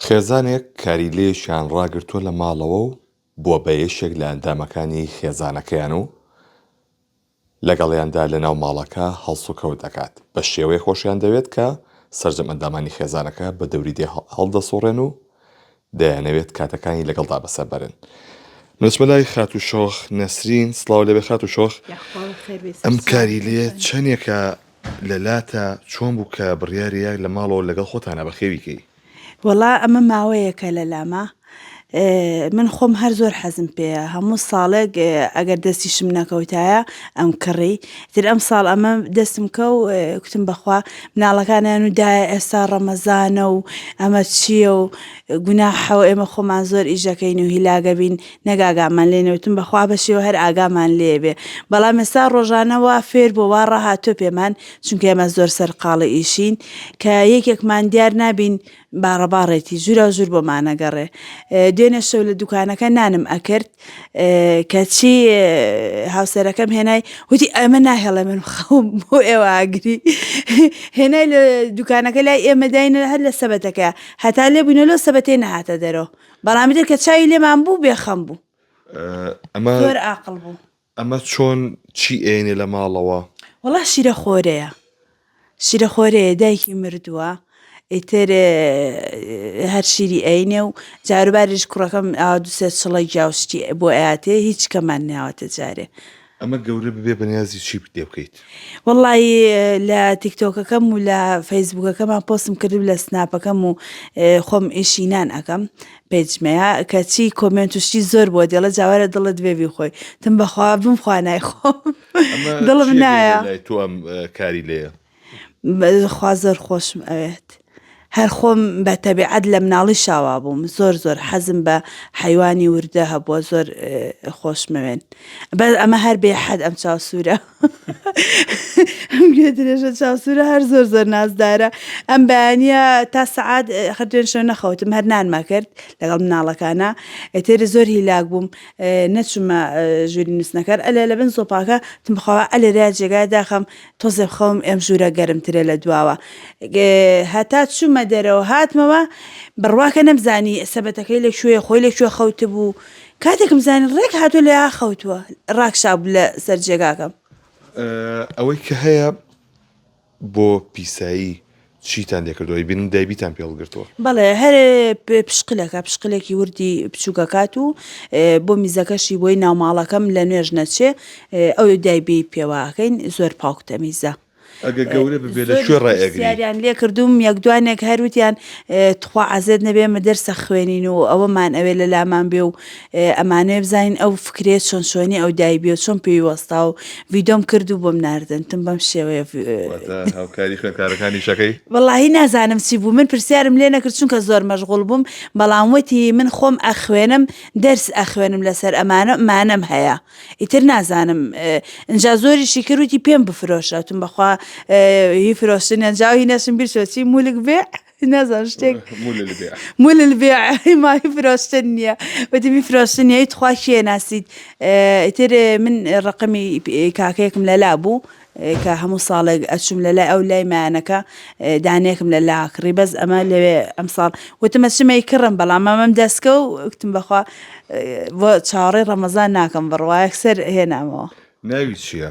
خێزانێک کاریلەیەکیان ڕاگرتووە لە ماڵەوە و بووە بە یەکێک لە ئەندامەکانی خێزانەکەیان و لەگەڵیاندا لەناو ماڵەکە هەڵسوکەوت دەکات، بە شێوەیەک خۆشیان دەوێت کە سەرجەم ئەندامانی خێزانەکە بە دەوری دێ هەڵدەسوڕێن و دەیانەوێت کاتەکانی لەگەڵدا بەسەر بەرن. بنچمە لای خاتوو شۆخ نەسرین، سڵاو لێبێ خاتوو شۆخ، ئەم کاریلەیە چەندێکە لەلاتە چۆن بوو کە بڕیاری یاک لە ماڵەوە لەگەڵ خۆتانا بەخێوی کەی؟ وەڵا ئەمە ماوەیەکە لەلامە من خۆم هەر زۆر حەزم پێیە هەموو ساڵێک ئەگەر دەستیشم نەکەوتایە ئەم کڕی تر ئەم ساڵ ئەمە دەستم کە و کوتم بەخوا مناڵەکانیان و دایە ئێستا ڕەمەزانە و ئەمە چییە و گوناحەوە ئێمە خۆمان زۆر ئیشەکەین و هیلاگەبین نەک ئاگامان لێ نەوتن بەخوا بەشێوە هەر ئاگامان لێ بێ بەڵام ئێستا ڕۆژانە وا فێر بۆ وا ڕاهاتۆ پێمان چونکە ئێمە زۆر سەرقاڵی ئیشین کە یەکێکمان دیار نابین باڕەباڕێتی ژورا ژور بۆمانەگەڕێ دوێنێ شەو لە دوکانەکە نانم ئەکرد کەچی هاوسەرەکەم هێنای وتی ئەمە ناهێڵێ من خەوم بۆ ئێوە ئاگری هێنای لە دوکانەکە لای ئێمە داینە هەر لە سەبەتەکە هەتا لێ بووینە لۆ سەبەتێ نەهاتە دەرەوە بەڵامدر کە چاوی لێمان بوو بێ خەم بوو ئەمە هەر ئاقل بوو ئەمە چۆن چی ئێنێ لە ماڵەوە وڵا شیرە خۆرەیە شیرە خۆرەیە دایکی مردووە ئیتر هەر شیری ئەینێ و جاروبارش کوڕەکەم دوسێ چڵی جاوشتی بۆ ئااتێ هیچ کەمان ناوەتە جارێ ئەمە گەورە ببێ بەنیازی چی پێ بکەیت؟ وەڵڵایی لە تیکتۆکەکەم و لە فەیسبووکەکەمان پۆستم کردبوو لە سناپەکەم و خۆم ئیشی نان ئەکەم پێجمەیە کەچی کۆمێنت و شتی زۆر بۆ دێڵە جاوارە دڵت بێ بیخۆی تم بەخوا بم خوا نایخۆم ئەمە دڵم چییە گەورە نایە لای تۆ ئەم اه، کاری لێیە؟ خوا زۆر خۆشم ئەوێت. هەر خۆم بە تەبیعەت لە مناڵی شاوا بووم زۆر زۆر حەزم بە حەیوانی وردە هەبووە زۆر خۆشمەوێن بە ئەمە هەر بێ حەد ئەم چاو سوورە گوێ درێژە چاوسورە هەر زۆر زۆر نازدارە ئەم بەیانە تا سعات خەرێن شو نەخەوتم هەر نانما کرد لەگەڵ مناڵەکانە ئێتێری زۆر هیلاک بووم نەچمە ژووری نووسنەکەر ئەلێ لە بن سۆپاکە تمخوا ئەلێرا جێگای داخم تۆزێ خەوم ئێم ژوورە گەرمترە لە دواوە هەتا چوومە دەرەوە هاتمەوە بڕواکە نەمزانی سەبەتەکەی لە شوێ خۆی لە شوێ خەوت بوو کاتێکم زانین ڕێک هاتوو لە خەوتووە ڕاکشاب لە سەر جێگاکەم ئەوەی کە هەیە بۆ پیسایی چیتان لێکردوە ی بینن دایبیتان پێڵ گرتووە. بەڵێ هەر پشقلەکە پشقلێکی وردی بچووکەکات و بۆ میزەکەشی بۆی ناوماڵەکەم لە نوێژ نەچێ ئەو دایبی پێواکەین زۆر پاوک تەمیزە. ئەگە گەورە ببێ لە کوێ ڕای ئەگری. پرسیاریان لێ کردووم یەک دوانێک هەر وتیان تخوا عەزێت نەبێ ئێمە دەرسە خوێنین و ئەوەمان ئەوێ لەلامان بێ و ئەمانوێ بزانین ئەو فکرەیە چۆن چۆنی ئەو دایبیەوە چۆن پێوی وەستا و ڤیدۆم کرد و بۆم ناردن تم بەم شێوەیە واتە هاوکاری خوێندکارەکانی شەکەی وەڵاهی نازانم چی بوو من پرسیارم لێ نەکرد چونکە زۆر مەشغوڵ بووم بەڵام وتی من خۆم ئەخوێنم دەرس ئەخوێنم لەسەر ئەمانە مانەم هەیە ئیتر نازانم ئینجا زۆریشی کرد وتی پێم بفرۆشە وتم بەخوا هی فرۆشتنیان جاوی نەشم بیر چۆچی مولک بێ نازان شتێک مولل بێ ماهی فرۆشتن نییە بەدەمی فرۆشتن نیە تخوا شێ ناسیت ئیتر من ڕقمی کاکەیەکم لەلا بوو کە هەموو ساڵێک ئەچوم لە لای ئەو لای مایانەکە دانێکم لە لا کڕی بەس ئەمە لەوێ ئەم ساڵ وتمە چمەی کڕم بەڵام ئەمەم دەستکە و وتم بەخوا بۆ چاوەڕێ ڕەمەزان ناکەم بڕواایەک سەر هێنامەوە ناوی چییە؟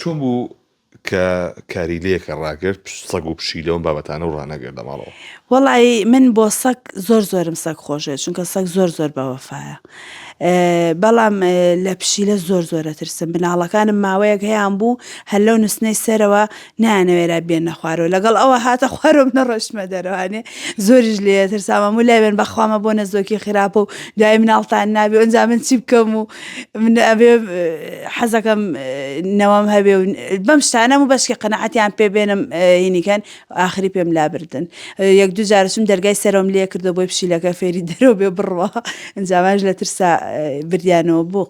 چۆن بوو کە کاری لەکە ڕاگرت سەگ و پشی لەوم بابەتانە و ڕانەگرت لە ماڵەوە؟ وەڵی من بۆ سەگ زۆر زۆرم سەگ خۆشێت چونکە سەگ زۆر زۆر بەوەفاە بەڵام لە پشیلە زۆر زۆرە ترسم مناڵەکانم ماوەیەک هەیان بوو هەر لەو نوستنەی سەرەوە نایانەوێرا بێنە خوارەوە لەگەڵ ئەوە هاتە خوارەوە منە ڕۆشتمە دەرەوانێ زۆریش لێ ترساوە و لای بێن بەخوامە بۆ نەزۆکی خراپە و دوای مناڵتان نابێ ئەنجا من چی بکەم و من ئەبێ حەزەکەم نەوەم هەبێ و بەم شتانە و بەشکی قەنەعەتیان پێ بێنم هینیکەن ئاخری پێم لابردن یەک دوو جارشم دەرگای سەرۆم لێ کردو بۆی پشیلەکە فێری دەرەوە بێ بڕوە ئەنجاماش لە ترسا بریانەوە بۆ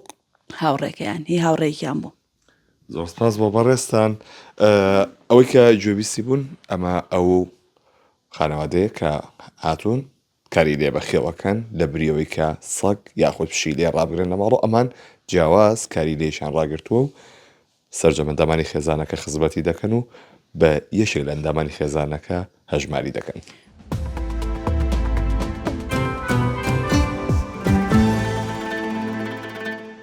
هاوڕێکەیان هی هاوڕێکیان بوو زۆر سپاس بۆ بەڕێزتان ئەوەی کە گوێبیستی بوون ئەمە ئەو خانەوادەیە کە هاتوون کاری لێ بەخێوەکەن لە بریەوەی کە سەگ یاخود پشی لێ ڕابگرن لە ماڵۆ ئەمان جیاواز کاری لێشان ڕاگرتووە و سرجەمەندەمانی خێزانەکە خزمەتی دەکەن و بە یەکێک لە ئەندامانی خێزانەکە هەژماری دەکەن.